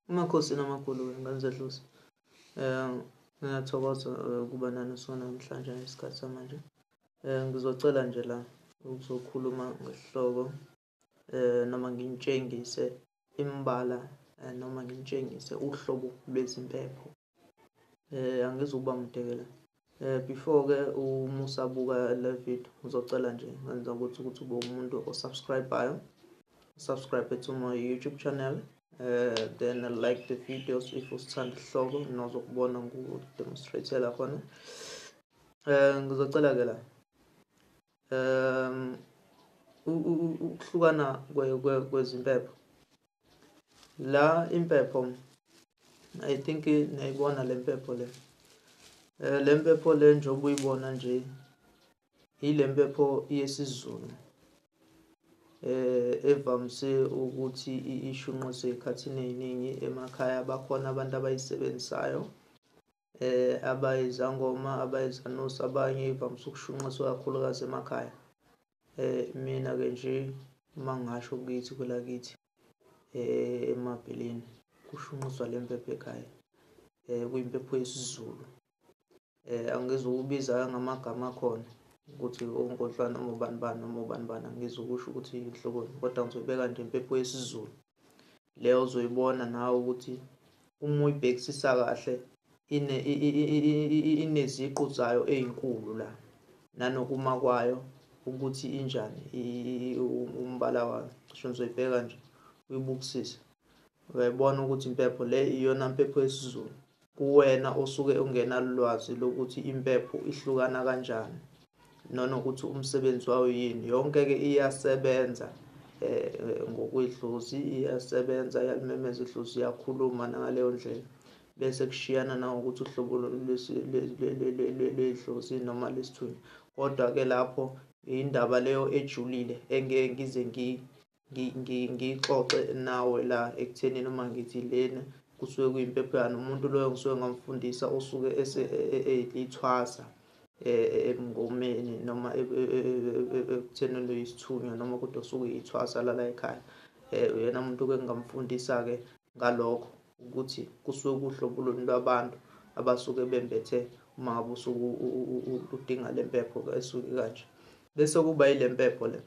Amakhosi namakhulu wengane zedlozi. Um ngiyathokoza eh, ukuba nani sona namhlanje ngesikhathi samanje. Um ngizocela nje la ukuzokhuluma ngesihloko um noma nginitshengise imbala um noma nginitshengise uhlobo lwezimpepho Eh angizuba mdekela. Eh before ke uma usabuka le video ngizocela nje ngenza ukuthi ukuthi ube umuntu osubscribeayo. Subscribe to my YouTube channel. Uh, then I like the videos if usithanda isihloko nozokubona ngokudemonstrate la khona. Eh ngizocela ke la. um ukuhlukana kwezimpepho la impepho i think niyayibona le mpepho le um le mpepho le njengoba uyibona nje yile mpepho yesizulu eh evamise ukuthi ishunquzwe ekhathini eziningi emakhaya bakhona abantu abayisebenzisayo eh abayizangoma abayizanusi abanye ivamise ukushunqiswa kakhulukazi emakhaya eh mina ke nje uma ngasho kithi kwelakithi eh emabheleni kushunqiswa le mpepho ekhaya eh kuyimpepho yesiZulu eh angizukubiza ngamagama akhona ukuthi ongodlwana noma ubani bani noma ubani bani angizukusho ukuthi inhloboni kodwa ngizobeka nje impepho yesiZulu le ozoyibona nawe ukuthi uma uyibhekisisa kahle ineziqu zayo ezinkulu la nanokuma kwayo ukuthi injani umbala wayo cisho nizoyibheka nje uyibukisise uyayibona ukuthi impepho le iyona mpepho yesiZulu Kuwena osuke ungenalulwazi lokuthi impepho ihlukana kanjani nanokuthi umsebenzi wayo yini yonke ke iyasebenza um ngokwedlozi iyasebenza yalimemeza idlozi iyakhuluma nangaleyo ndlela bese kushiyana nangokuthi uhlobo lwedlozi noma lesithunywa kodwa ke lapho indaba leyo ejulile engeke ngize ngiyixoxe nawe la ekuthenini uma ngithi lena kusuke kuyimpepho yani umuntu loyo ngisuke ngamfundisa usuke elithwasa emngomeni noma ekuthenini uyisithunywa noma kodwa usuke uyithwasa lala ekhaya um uyena muntu ke ngingamfundisa-ke ngalokho ukuthi kusuke kuhlobuluni lwabantu abasuke bembethe uma ngabe usuke udinga le mpepho esuke kanje bese kuba yile mpepho le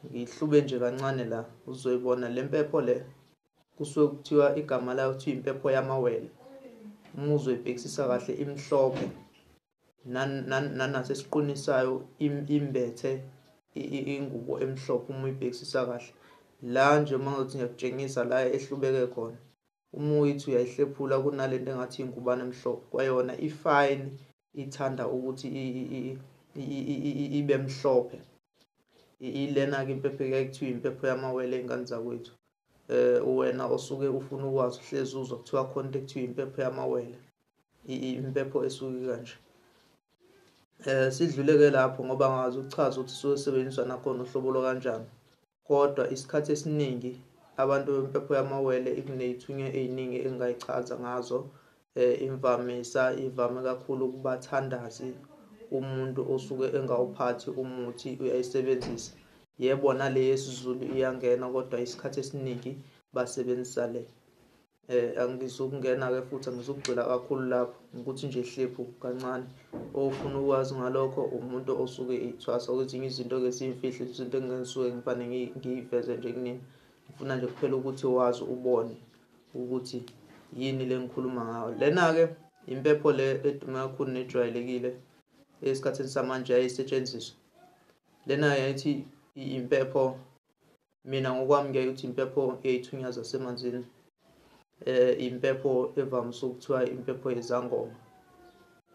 ngihlube nje kancane la uzoyibona le mpepho le kusuke kuthiwa igama layo kuthiwa impepho yamawele uma uzoyibhekisisa kahle imhlophe nanasesiqwini sayo imbethe ingubo emhlophe uma uyibhekisisa kahle la nje uma ngizothi ngiyakutshengisa la ehlubeke khona uma uyithi uyayihlephula kunale nto engathi ingubane emhlophe kwayona ifayini ithanda ukuthi ibe mhlophe ilena-ke impepho ekuyaye kuthiwa impepho yamawele ey'ngane zakwethu um wena osuke ufuna ukwazi uhlezi uzwa kuthiwa khona into ekuthiwa impepho yamawele impepho esuke kanje um sidluleke lapho ngoba ngazi ukuchaza ukuthi suke sebenziswa nakhona uhlobo lwakanjani Kodwa isikhathi esiningi abantu bempepho yamawele ikuney'thunywa ey'ningi engingayichaza ngazo. Imvamisa ivame kakhulu kubathandazi umuntu osuke engawuphathi umuthi uyayisebenzisa. Yebo nale yesiZulu iyangena kodwa isikhathi esiningi basebenzisa le. Eh angizukungena ke futhi angizukugxila kakhulu lapho ukuthi nje hlephu kancane ofuna ukwazi ngalokho umuntu osuke ithwasa ukuthi izinto ke simfihle izinto engisuke ngifane ngiyiveze nje kunini ngifuna nje kuphela ukuthi wazi ubone ukuthi yini lengikhuluma ngayo lena ke impepho le edume kakhulu nejwayelekile esikhathini samanje yayisetshenziswa lena yayithi impepho mina ngokwami ngiyaye ukuthi impepho eyayithunywa zasemanzini eh impepho evamise ukuthiwa impepho yezangoma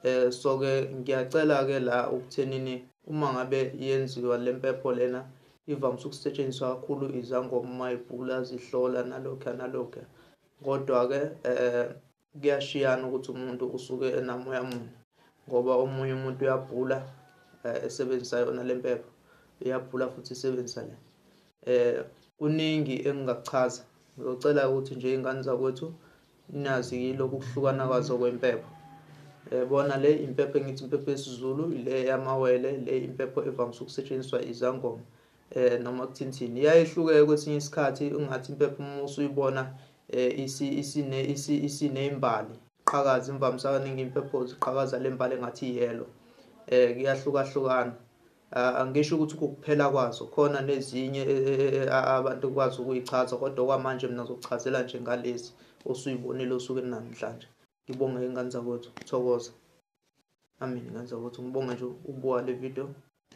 eh so ke ngiyacela ke la ukuthenini uma ngabe yenziwa lempepho lena ivamise ukusetshenziswa kakhulu izangoma uma ibhula zihlola nalokho nalokho kodwa ke eh Kuyashiyana ukuthi umuntu usuke enamoya muni ngoba omunye umuntu uyabhula eh, esebenzisa yona le mpepha uyabhula futhi isebenzisa le eh kuningi engingakuchaza ngizocela ukuthi nje ingane zakwethu nazi lokhu kuhlukana kwazo kwempepho eh, bona le impepho engithi impepho yesiZulu le yamawele le impepho evamise ukusetshenziswa izangoma eh noma kuthinthini iyayehluke kwesinye isikhathi ungathi impepho uma usuyibona eh isi isine isi isine imbali qhakaza imvamisa kaningi impepho ziqhakaza lembali engathi yellow eh kuyahlukahlukana ah, angisho ukuthi ukuphela kwazo khona nezinye eh, eh, eh, abantu kwazi ukuyichaza kodwa kwamanje mina zokuchazela nje ngalezi osuyibonile osukwini namhlanje ngibonge ingane zakwethu thokoza amen ngenza ukuthi ngibonge nje ukubuka le video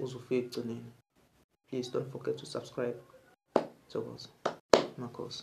uze ufike ekugcineni please don't forget to subscribe thokoza makhosi